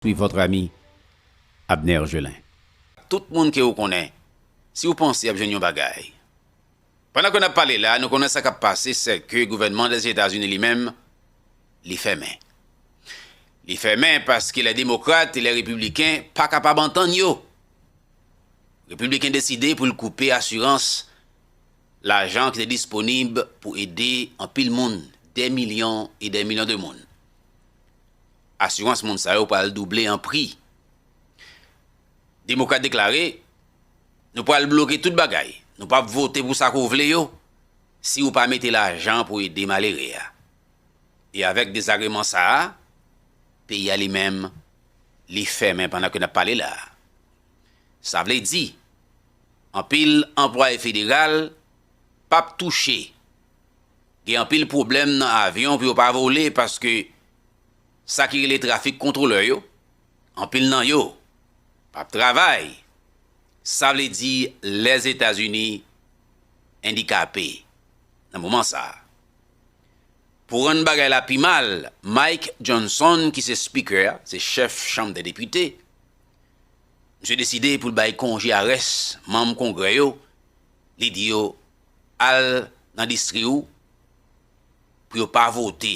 Suis votre ami Abner Gelin. Tout moun ke ou konnen, si ou panse yap jwenn yon bagay. Pandan ke nap pale la, nou konnen sa kap pase se ke gouvènman Lèzetazini li menm, li fèmen. Li fèmen paske lè demokrat e lè repibliken pa kapab antann yo. Repibliken deside pou l koupe asirans, lajan ki te disponib pou ede anpil moun, dè milyon e dè milyon de moun. asirans moun sa yo pral double an pri. Demokrat deklare, Nou pral bloke tout bagay, nou pap vote pou sa ke w vle yo si ou pa mete lajan pou ede malere a. E avèk dezagreman sa a, peyi a li menm li fèmen pandan ke n ap pale la a. Sa vle di, anpil anplwaye federal pap touche Gen anpil pwoblèm nan avyon pou yo pa vole paske sa ki rele trafik kontwolè yo, anpil nan yo p ap travay, sa vle di Lèzetazini endikape nan moman sa a. Pou rann bagay la pi mal, Mike Johnson ki se Speaker a, se chèf Chanm dè Depite, misye deside pou l bay konje a rès manm Kongrè yo, li di yo Al nan distri ou pou yo pa vote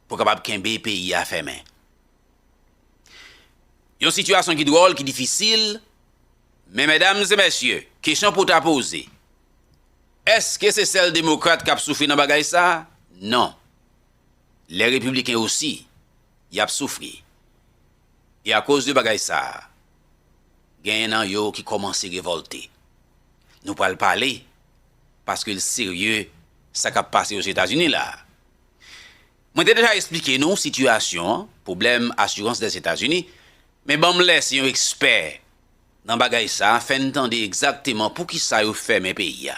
pou kapab kenbe peyi a fèmen. Yon sitiyasyon ki dwòl, ki difisil, men medam e mesye, kesyon pou ta poze, eske se sèl demokrat k ap soufri nan bagay sa? Non. Lè repibliken osi, y ap soufri. E akoz de bagay sa a, genyen nan yo ki kòmanse revòlte. Nou pral pale, paske l serye, sa k ap pase Ozetazini la a. Mwen te deja esplike nou sitiyasyon an, pwoblèm asirans Lèzetazini, men ban m lèse yon ekspè nan bagay sa a fè n tande egzakteman poukisa yo fèmen peyi a.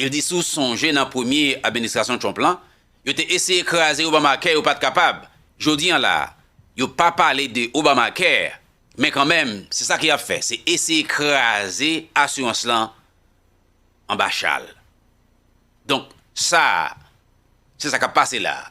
Il di si w sonje nan premye administrasyon Trump lan, yo te eseye kraze Obamacare yo pat kapab. Jodi an la a, yo pa pale de Obamacare, men kanmenm se sa ke yap fè, se eseye kraze asirans lan anba chal. Donk sa a, se sa kap pase la a.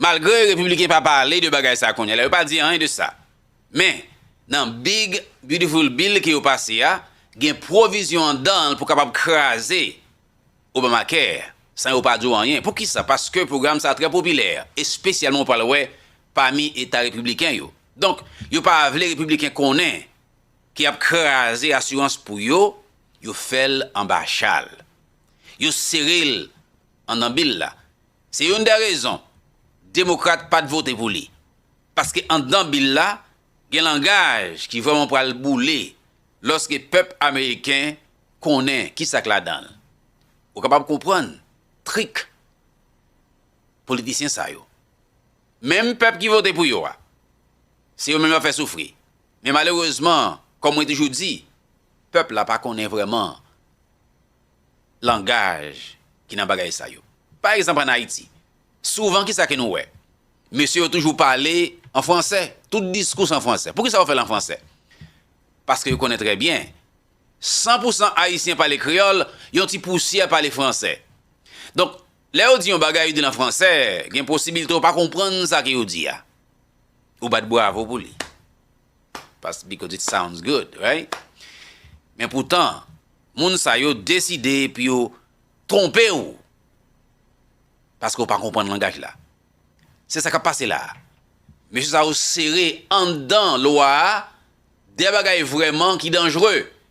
Malgre Repibliken pa pale de bagay sa kounye la, yo pa di anyen de sa. Men, nan Big Beautiful Bill ke yo pase a, gen pwovizyon andan l pou kapab kraze Obamacare, san yo pa di w anyen. Poukisa? Paske pwogram sa trè popilè, espesyalman ou pral wè pami eta Repibliken yo. Donk, yo pa vle Repibliken konnen ke y ap kraze asirans pou yo, yo fè l anba chal. Yo sere l andan bill la. Se youn dè rezon Demokrat pat vote pou li. Paske anndan bil la, gen langaj ki vrèman pral boule lòske pèp ameriken konnen kisa k ladan l. Ou kapab konprann trik politisyen sa yo. Menm pèp ki vote pou yo a, se yo menm y ap fè soufri. Men malerezman, kòm mwen toujou di, pèp la pa konnen vrèman langaj ki nan bagay sa yo. Pa egzanp an Ayiti, souvan ki sa ke nou wè? Mesye yo toujou pale an fransè, tout diskous an fransè. Pou ki sa yo fè l an fransè? Paske yo konnen trè byen, san pou san Ayisyen pale kreyòl, yon ti pousyè pale fransè. Donk, lè yo di yon bagay, yo di l an fransè, gen posibilte ou pa konprann sa ke yo di a. Ou bat bravo pou li. Pas because it sounds good, right? Men poutan, moun sa yo deside pou yo twonpe ou paske ou pa konprann langaj la. Se sa k ap pase la a. Mesye sa yo sere anndan lwa a de bagay vrèman ki danjre.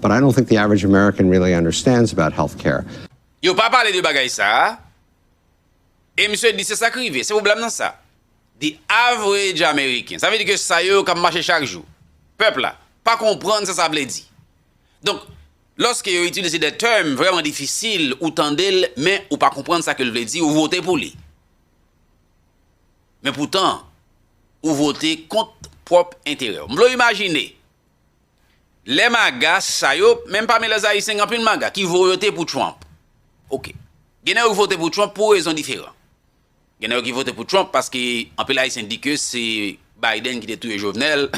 But I don't think the average American really understands about health care. Yo pa pale de bagay sa a, e misye di se sa k rive, se pwoblèm nan sa. The average American, sa vle di ke sa yo k ap mache chak jou, pèp la, pa konprann sa sa vle di. Donk, lòske yo itilize de tèm vrèman difisil, ou tande l, men ou pa konprann sa ke l vle di, ou vote pou li. Men poutan, ou vote kont pwòp enterè w. M vle w imajine. Lè maga sa yo, menm pami lè zayisen gen anpil maga ki voyote pou Trump. Ok. Gen nèg yo ki vote pou Trump pou rezon diferan. Gen nèg yo ki vote pou Trump paske anpil ayisen di ke se Biden ki te touye Jovenel,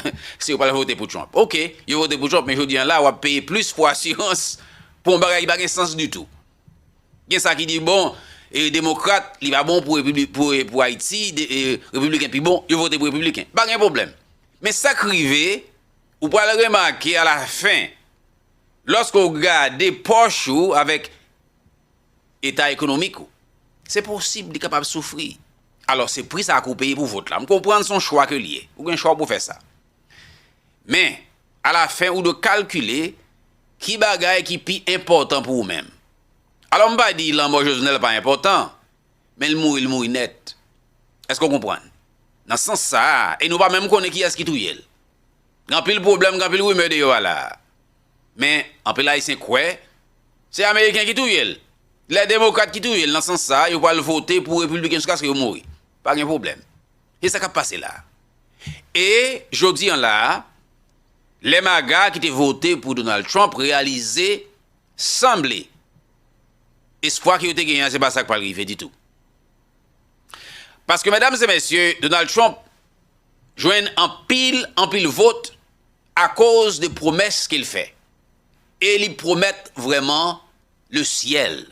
se yo pral vote pou Trump. Ok. Yo vote pou Trump men jodi an la wap peye plis pou asirans pou yon bagay ki pa gen sans ditou. Gen sa ki di bon, e demokrat li pa bon pou repibli, pou e, pou Ayiti, de, e, repibliken pi bon, yo vote pou repibliken. Pa gen pwoblèm. Men sak rive, Ou pral remake a la fen, lòske ou gade pòch ou avèk eta ekonomik ou, se posib li kapab soufri. Alò se pri sa ke ou peye pou vòt la. M konprann se yon chwa ke li ye. Ou gen chwa ou pou fè sa. Men, a la fen ou dwe kalkile ki bagay ki pi enpòtan pou ou menm. Alò m pa di lanmò Jovenel pa enpòtan, Men l mouri l mouri nèt. Èske w konprann? Nan sans sa a, e nou pa menm konnen kiyès ki touye l. Gen anpil pwoblèm, gen anpil rimè deyò a la a. Men, anpil Ayisyen kwè, se Ameriken ki touye l. Lè Demokrat ki touye l, nan sans sa a, yo pral vote pou Repibliken jiskaske yo mouri. Pa gen pwoblèm. E sa k ap pase la a? E, jodi an la a, lè MAGA ki te vote pou Donald Trump reyalize Sanble, espwa ke yo te genyen an se pa sa k pral rive ditou. Paske medam e mesye, Donald Trump jwenn anpil, anpil vot akoz de pwomès ke l fè. E li pwomèt vrèman le syèl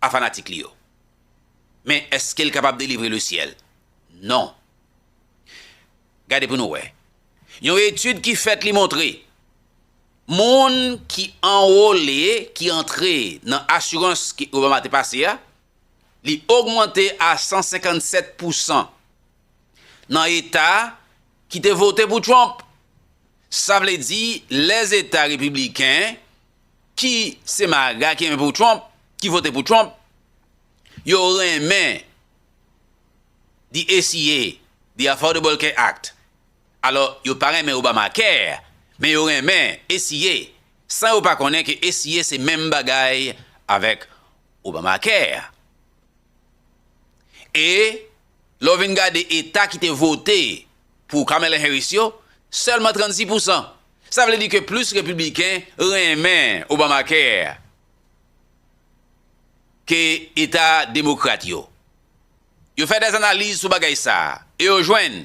a fanatik li yo. Men eske l kapab delivre le syèl? Non. Gade pou nou wè. Yon etid ki fèt li montre. Moun ki anwole, ki antre nan asirans ke Obama te pase a, li ogmante a 157 pou san nan eta ki te vote pou Trump. Sa vle di les eta repibliken ki se maga ki renmen pou Trump, ki vote pou Trump, yo renmen the ACA, the Affordable Care Act, Alò, yo pa renmen Obamacare, men yo renmen ACA, san yo pa konnen ke ACA se menm bagay avèk Obamacare. E, lè w vin gade eta ki te vote pou Kamala Harris yo, sèlman 36 pousan. Sa vle di ke plis Repibliken renmen Obamacare ke eta Demokrat yo. Yo fè dèz analiz sou bagay sa a, e yo jwenn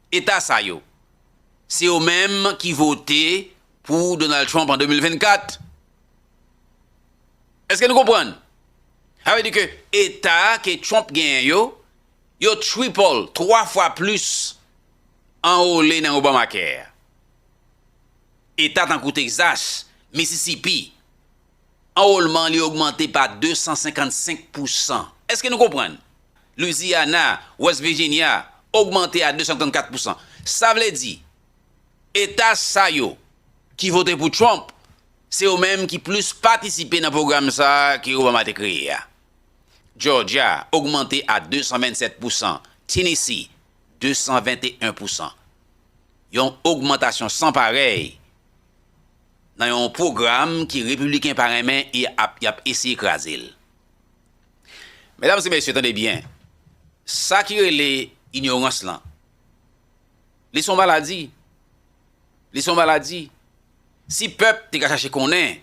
Eta sa yo, se yo menm ki vote pou Donald Trump an 2024. Eske nou konprann? Sa vle di ke eta ke Trump genyen yo, yo triple, 3 fwa plis anrole nan Obamacare. Eta tankou Texas, Mississippi. Anwolman li ogmante pa 255 pousan. Eske nou konprann? Louisiana, West Virginia, ogmante a 234 pousan. Sa vle di, eta sa yo ki vote pou Trump, se yo menm ki plis patisipe nan pwogram sa a ke Obama te kreye a. Georgia, ogmante a 227 pousan. Tennessee, 221 pousan. Yon ogmantasyon san parèy nan yon pwogram ke Repibliken pa renmen e yap eseye kraze l. Medam e mesye tande byen, sa ki rele inyorans lan, li se yon maladi, li se yon maladi. Si pèp te ka chache konnen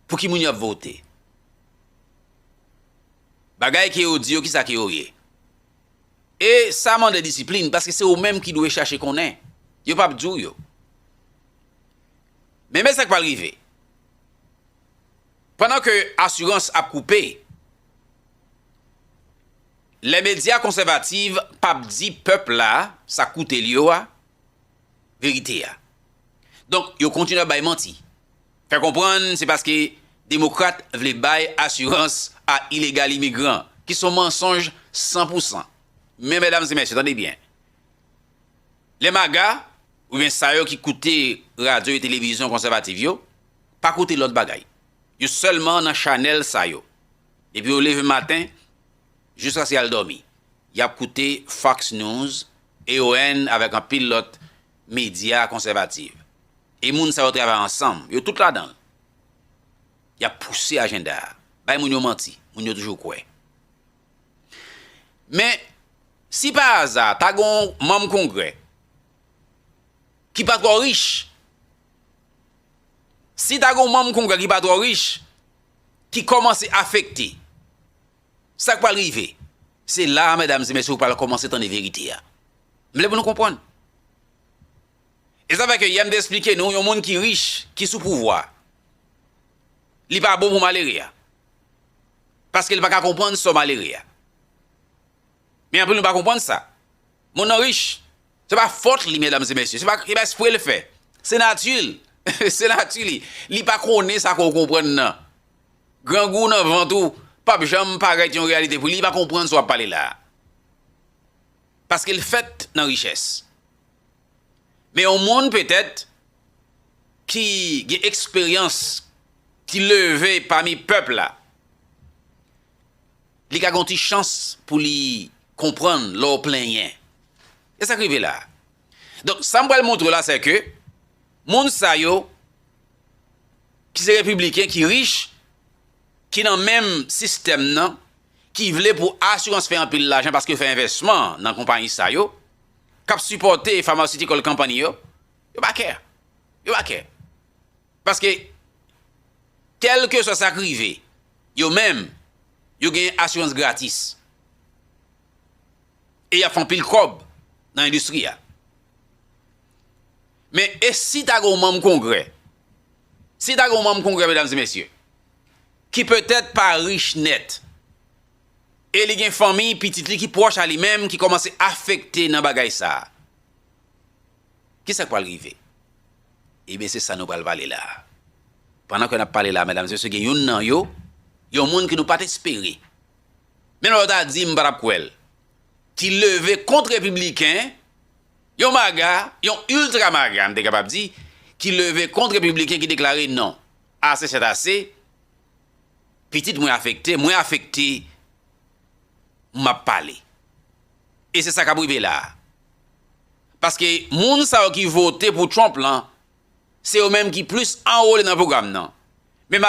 pou ki moun yap vote, bagay ke yo di yo kisa ke yo ye? E sa mande disiplin paske se ou menm ki dwe chache konnen. Yo p ap di w yo. Men men sa k pral rive. Pandan ke asirans ap koupe, lè medya konsèvativ p ap di pèp la sa k koute l yo a, verite a. Donk, yo kontinye ap bay manti. Fè konprann se paske Demokrat vle bay asirans a ilegal imigran, ki son mansonj san pou san. Men medam e mesye tande byen, lè maga oubyen sa yo ki koute radyo e televizyon konsèvativ yo pa koute lòt bagay, yo sèlman nan chanèl sa yo, depi yo leve maten jiskaske yal dòmi, yap koute Fox News, AON avèk anpil lòt medya konsèvativ. E moun sa yo travay ansanm, yo tout ladan l. Y ap pouse ajenda a, bay moun yo manti, moun yo toujou kwè. Men, si pa aza, ta gen yon manm Kongrè ki pa twò rich, si ta gen yon manm Kongrè ki pa twò rich, ki kòmanse afekte Sak pral rive? Se la a medam e mesye ou pral komanse tande verite a. M vle pou nou konprann. E sa fè ke yè m te esplike nou yon moun ki rich, ki sou pouvwa, li pa bon pou malere a. Paske li pa ka konprann sò malere a. Men anpil nou pa konprann sa. Moun nan rich, se pa fòt li medam e mesye, se pa espre l fè. Se nati l. Se nati li. Li pa konnen sa ke w konprann nan. Grangou nan vant ou pap janm parèt yon reyalite pou li, li pa konprann sa w ap pale la a. Paske l fèt nan richès. Men yon moun petèt ki gen eksperyans, ki leve pami pèp la, li ka gen yon ti chans pou li konprann lè w plenyen. Se sa k rive la a. Donk sa m pral montre w la sè ke moun sa yo ki se repibliken ki rich, ki nan menm sistèm nan, ki vle pou asirans fè anpil lajan paske yo fè envèsman nan konpayi sa yo, k ap sipòte pharmaceutical company yo, yo pa kè. Yo pa kè. Paske, kèlkeswa sa k rive, yo menm, yo gen asirans gratis. E y ap fè anpil kòb nan endistri a. Men e si ta gen yon manm kongrè, si ta gen yon manm kongrè medam e mesye, ki petèt pa rich nèt, e li gen fanmi, pitit li ki pwòch a li menm ki kòmanse afekte nan bagay sa a, ki sa k pral rive? Ebyen se sa nou pral pale la a. Pandan ke n ap pale la a medam e mesye gen youn nan yo, yon moun ke nou pa t espere, menm lè yo ta di m pa t ap kwè l, ki leve kont repibliken, Yon maga, yon ultra maga m te kapab di, ki leve kont repibliken ki deklare non, ase sèt ase, pitit mwen afekte, mwen afekte, m ap pale. E se sa k ap rive la a. Paske moun sa yo ki vote pou Trump lan, se yo menm ki plis anwole nan pwogram nan. Men malere.